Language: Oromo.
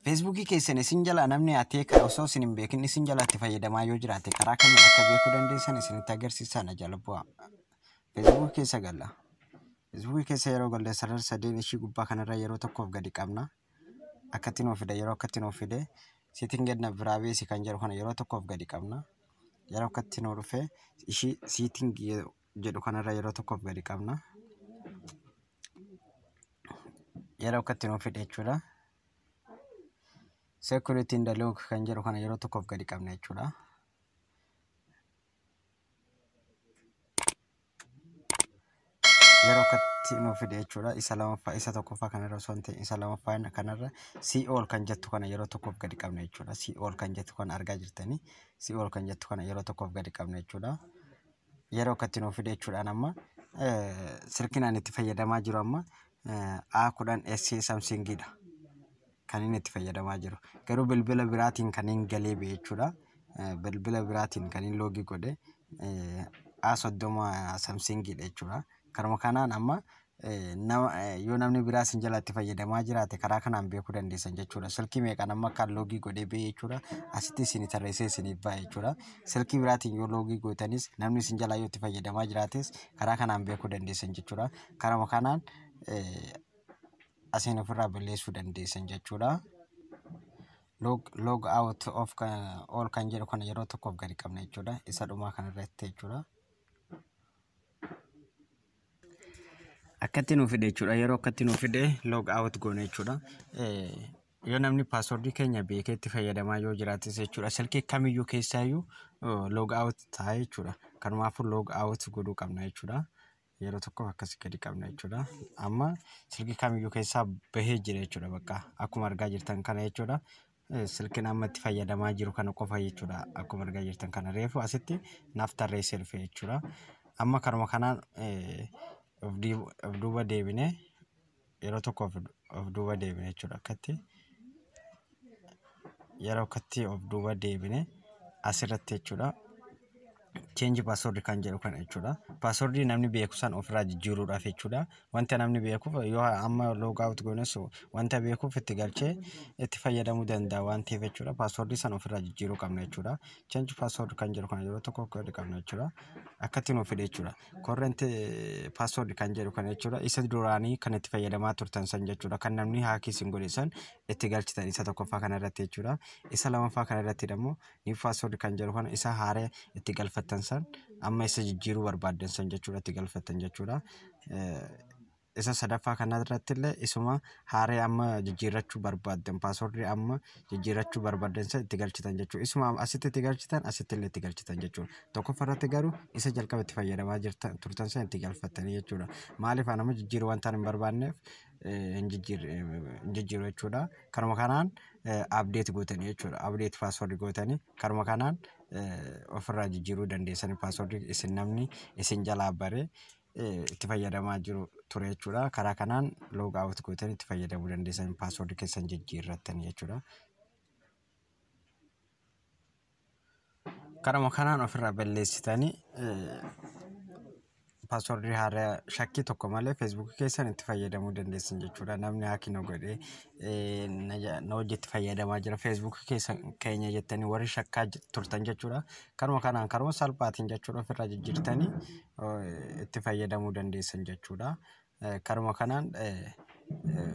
Feesbuukii keessan isin jalaa namni atee kan osoo isin hin beekin isin jalaa itti fayyadamaa yoo jiraate karaa kamiin akka beekuu dandeessan isinitti agarsiisaa na jala bu'aa. Feesbuukii keessa galla. Feesbuukii keessa yeroo galle sarara sadeen ishii gubbaa kanarra yeroo tokkoof gadi qabna. Akkatti nuuf fida yeroo akkatti nuuf fide seetiin gad na biraa beesi kan jedhu kana yeroo tokkoof gadi qabna. Yeroo akkatti nuu dhufe ishii seetiin jedhu kanarra yeroo tokkoof gadi qabna. Yeroo akka itti nuuf fidhe jechuudha. Security in the log kan jedhu kana yeroo tokkoof gadi qabna jechuudha. Yeroo akka itti nuuf fidhe jechuudha. Isa lamaffaa isa tokkoffaa kanarra osoo hin ta'in isa lamaffaa kanarra CO kan jettu kana yeroo tokkoof gadi qabna jechuudha. CO kan jettu kana argaa jirtanii CO kan jettu kana yeroo tokkoof gadi qabna jechuudha. yeroo akkatti nuuf fide jechuudhaan amma silkiin ani itti fayyadamaa jiru amma A10 SE Samsung dha. Kan inni itti fayyadamaa jiru. Garuu bilbila biraatiin kan hin galee ba'e jechuudha. Bilbila biraatiin kan hin loogii godhe A30 Samsung dha jechuudha. Karuma kanaan amma yoo namni biraa isin jalatti fayyadamaa jiraate karaa kanaan beekuu dandeessan jechuudha. Silkii meeqaan amma kan loogii godhee ba'e jechuudha. Asitti isin tarreessee isiniif ba'a jechuudha. Silkii biraatiin yoo loogii gootanis namni isin jalaa yoo itti fayyadamaa jiraates karaa kanaan beekuu dandeessan jechuudha. Karama kanaan asiin ofirraa balleessuu dandeessan jechuudha. Log, log out of kan, all kan jedhu kana yeroo tokkoof gadi qabna jechuudha. Isa dhumaa kanarratti jechuudha. Akkatti nu fide jechuudha. Yeroo akkatti nu fide log out goone jechuudha. Yoo namni paaswordii keenya beekee itti fayyadamaa yoo jiraates jechuudha. Silkii kamiyyuu keessaayyuu log out ta'a jechuudha. Kanumaafuu log out godhuu qabna jechuudha. Yeroo tokkoof akkasii gadi qabna jechuudha. Amma silkii kamiyyuu keessaa bahee jira jechuudha bakka akkuma argaa jirtan kana jechuudha. silkin amma itti fayyadamaa jiru kana qofa jechuudha akkuma argaa jirtan kana reefu asitti naaf tarreessee dhufe jechuudha amma kanuma kanaan eh, of dii- of duuba deebine yeroo tokko of of duuba deebine jechuudha akkatti yeroo akkatti of duuba deebine asirratti jechuudha change password kan jedhu kana jechuudha. Password namni beeku san ofirraa jijjiiruudhaaf jechuudha. Wanta namni beekuuf yoo amma log out goones wanta beekuuf itti galchee itti fayyadamuu danda'a waan ta'eef jechuudha. Password san ofirraa jijjiiruu qabna jechuudha. Change password kan jedhu kana yeroo tokko code qabna jechuudha. Akkatti nuuf fide jechuudha. Current eh, password kan jedhu kana jechuudha. Isa duraanii kan itti fayyadamaa turtan san jechuudha. Kan namni haakii isin godhe san itti galchitan isa tokkoffaa kana irratti jechuudha. Isa lamaffaa kana irratti immoo new password kan jedhu kana isa haaree itti galfattan san amma isa jijjiiruu barbaaddan san jechuudha itti galfattan jechuudha. Isa sadaffaa kana irratti illee isuma haaree amma jijjiirrachuu barbaaddan password amma jijjiirrachuu barbaaddan san itti galchitan jechuudha. Isuma asitti itti galchitan asitti illee itti galchitan jechuudha. Tokkoffaa irratti garuu isa jalqaba itti fayyadamaa jirtan turtan san itti galfattanii jechuudha. Maaliif anama jijjiiruu wantaan hin barbaanneef hin jijjiiru jechuudha. Karuma kanaan update gootanii jechuudha. Update password gootanii karuma kanaan ofirraa jijjiiruu dandeessanii password isin namni isin jalaa bare itti fayyadamaa jiru ture jechuudha. Karaa kanaan log out gootanii itti fayyadamuu dandeessanii password keessan jijjiirrattanii jechuudha. Karuma kanaan ofirraa balleessitanii paaswordii haaraa shakkii tokko malee feesbuukii keessan itti fayyadamuu dandeessan jechuudha. Namni haaki na godhee eh, na ja- na hojii itti fayyadamaa jira feesbuukii keessan keenya jettanii warri shakkaa j- turtan jechuudha. Karuma kanaan karuma salphaatiin jechuudha ofirraa jijjiirtanii eh, itti fayyadamuu dandeessan jechuudha. Eh, Karuma kanaan eh, eh,